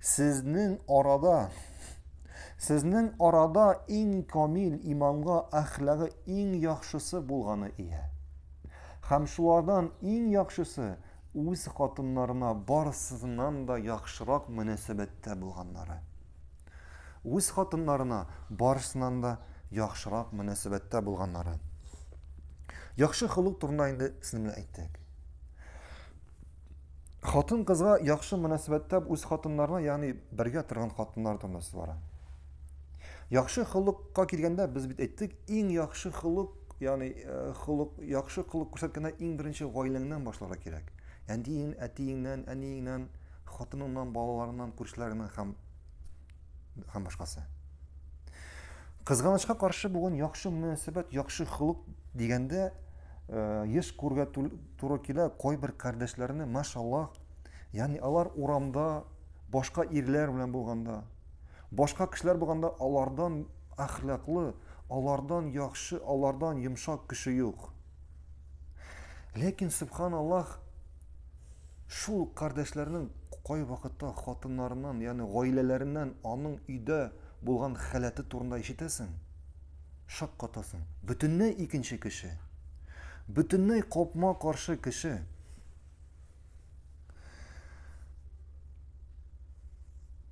Сезнең арада Сезнең арада иң камил иманга әхлагы иң яхшысы булганы ия. Һәм шулардан иң яхшысы үз хатыннарына барысыннан да яхшырак мөнәсәбәттә булганнары. Үз хатыннарына барысыннан да яхшырак мөнәсәбәттә булганнары. Яхшы холык турында инде сезнең белән әйттек. хатын кызга яхшы мөнәсәбәттә үз хатыннарына ягъни бергә торган хатыннар да мөнәсәбәт бара яхшы холыкка килгәндә без бит әйттек иң яхшы холык ягъни э, холык яхшы холык күрсәткәндә иң беренче гаиләңнән башларга кирәк әниең әтиеңнән әниеңнән хатыныңнан балаларыңнан күршеләреңнән һәм һәм башкасы. Кызганычка каршы бүген яхшы мөнәсәбәт, яхшы холык дигәндә э, еш күргә туры килә кайбер кардәшләрне, машаллах. Ягъни алар урамда башка ирләр белән булганда, башка кешеләр булганда алардан әхлаклы, алардан яхшы, алардан йомшак кеше юк. Ләкин субханаллах, Шул кардәшләрнең кайвакытта хатыннарыннан, ягъни гаиләләреннән аның өйдә булган халәте турында ишетәсең, шаккатасың. Бөтенләй икенче кеше. Бөтенләй капма-каршы кеше.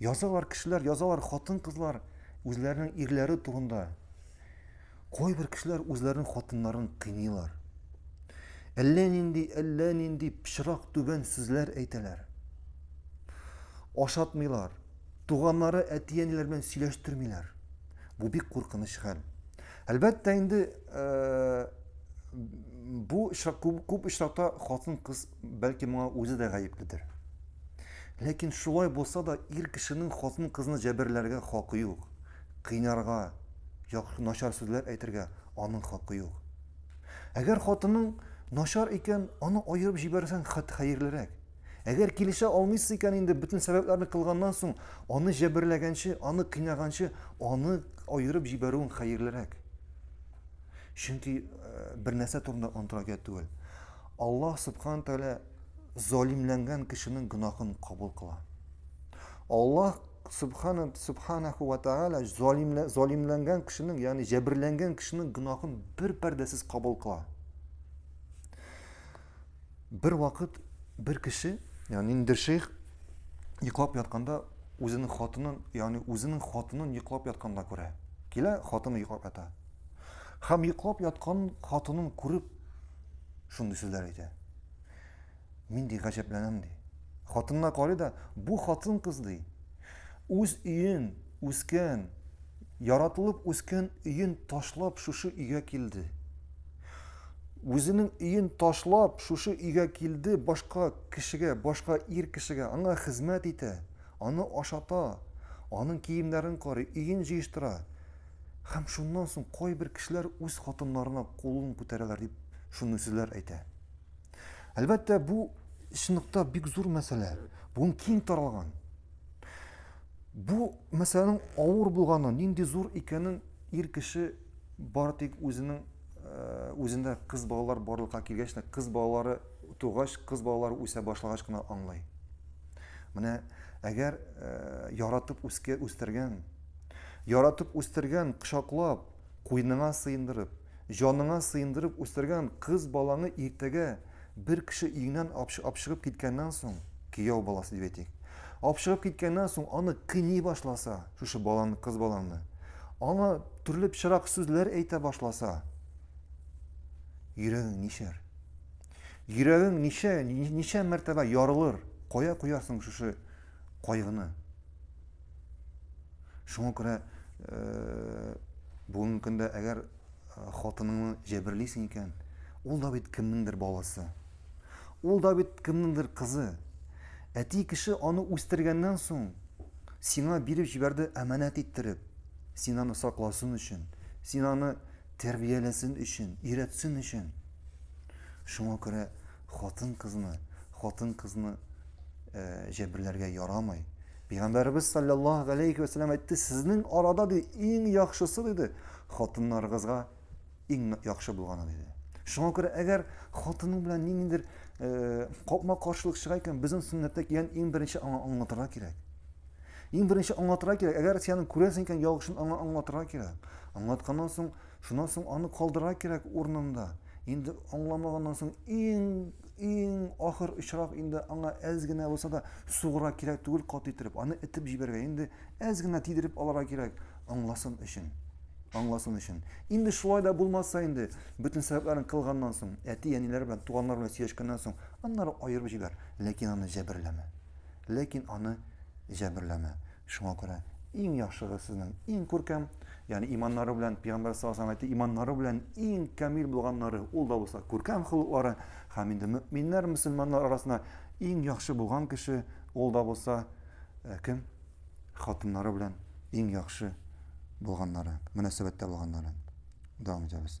Язалар кешеләр, язалар хатын-кызлар үзләренең ирләре турында. Кайбер кешеләр үзләренең хатыннарын кыйныйлар. Әллә нинди, әллә нинди пычрак түбән сүзләр әйтәләр. Ашатмыйлар, туганнары әти-әниләр белән сөйләштермиләр. Бу бик куркыныч хәл. Әлбәттә инде э, бу күп очракта хатын-кыз Бәлки моңа үзе дә гаепледер. Ләкин шулай булса да ир кешенең хатын-кызны җәберләргә хакы юк. Кыйнарга, яхшы начар сүзләр әйтергә аның хакы юк. Әгәр хатының начар икән, аны аерып җибәрсәң хат хәерлерәк. Әгәр килешә алмыйсы икән инде бөтен сәбәпләрне кылганнан соң, аны җәберләгәнче, аны кыйнаганчы, аны аерып җибәрүең хәерлерәк. Чөнки э, бер нәрсә турында онтырак түгел. Аллаһ Сөбханә Тәгалә залимләнгән кешенең гөнаһын кабул кыла. Аллаһ Сөбханә Сөбханәһу ва Тәгалә залимлә залимләнгән кешенең, ягъни җәберләнгән кешенең гөнаһын бер пәрдәсез кабул кыла. Бер вакыт бер кеше, ягъни ниндидер шейх йоклап ятканда үзенең хатынын, ягъни үзенең хатынын йоклап ятканда күрә. Килә, хатыны йоклап ята. Һәм йоклап яткан хатынын күреп, шундый сүзләр әйтә. Мин ди гаҗәпләнәм ди. Хатынына карый да, бу хатын кыз ди. Үз өен, үскән, яратылып үскән өен ташлап шушы өйгә килде. Үзенең өен ташлап шушы өйгә килде, башка кешегә, башка ир кешегә аңа хезмәт итә, аны ашата, аның киемнәрен карый, өен җыештыра. Һәм шуннан соң кайбер кешеләр үз хатыннарына кулын күтәрәләр дип шундый сүзләр әйтә. Әлбәттә, бу чынлыкта бик зур мәсьәлә. Бүген киң таралган. Бу мәсьәләнең авыр булганы, нинди зур икәнен ир кеше бары тик үзенең э, үзендә кыз балалар барлыкка килгәч тә кыз балалары тугач, кыз балалары үсә башлагач кына аңлый. Менә әгәр э, яратып үскә үстергән Яратып үстергән, кочаклап, куйныңа сыендырып, җаныңа сыендырып үстергән кыз балаңы иртәгә бер кеше өеңнән апшыгып киткәннән соң, кияү баласы дип әйтик, апшыгып киткәннән соң аны кыйный башласа, шушы баланы, кыз баланы, аңа төрле пычрак сүзләр әйтә башласа, йөрәгең нишәр? Йөрәгең ничә, ничә мәртәбә ярылыр? Кая куярсың шушы кайгыны? Шуңа күрә бүгенге көндә әгәр хатыныңны җәберлисең икән, ул да бит кемнеңдер баласы. Ул да бит кемнеңдер кызы. Әти кеше аны үстергәннән соң, сиңа биреп җибәрде әманәт иттереп. Син аны сакласын өчен, син аны тәрбияләсен өчен, өйрәтсен өчен. Шуңа күрә хатын-кызны, хатын-кызны э, җәберләргә ярамый. Пәйгамбәрбез саллаллаһу алейхи ва саллям әйтте, сезнең арада ди иң яхшысы диде, хатыннарыгызга иң яхшы булганы диде. Шуңа күрә әгәр хатының белән ниндидер э, капма каршылык чыга икән, безнең сөннәттә килгән иң беренче аңа аңлатырга кирәк. Иң беренче аңлатырга кирәк. Әгәр сиянең күрәсең икән, яхшын аңа аңлатырга кирәк. Аңлатканнан соң Шуннан соң аны калдырга кирәк урынында. Инде аңламаганнан соң иң, иң ахыр очрак инде аңа әз генә булса да сугыра кирәк түгел кат иттереп. Аны этеп җибәргә, инде әз генә тидереп алырга кирәк, аңласын өчен. Аңласын өчен. Инде шулай да булмаса инде, бөтен сәбәпләрен кылганнан соң, әти-әниләр белән, туганнар белән сөйләшкәннән соң, аннары аерып җибәр, ләкин аны җәберләмә. Ләкин аны җәберләмә. Шуңа күрә иң яхшыгыз сезнең иң күркәм, ягъни иманнары белән пигамбәр саллаллаһу алейһи ва иманнары белән иң камил булганнары, ул да булса күркәм холыклары, һәм инде мөэминнәр, мөселманнар арасында иң яхшы булган кеше, ул да булса э, кем? Хатыннары белән иң яхшы булганнары, мөнәсәбәттә булганнары. Дәвам итәбез.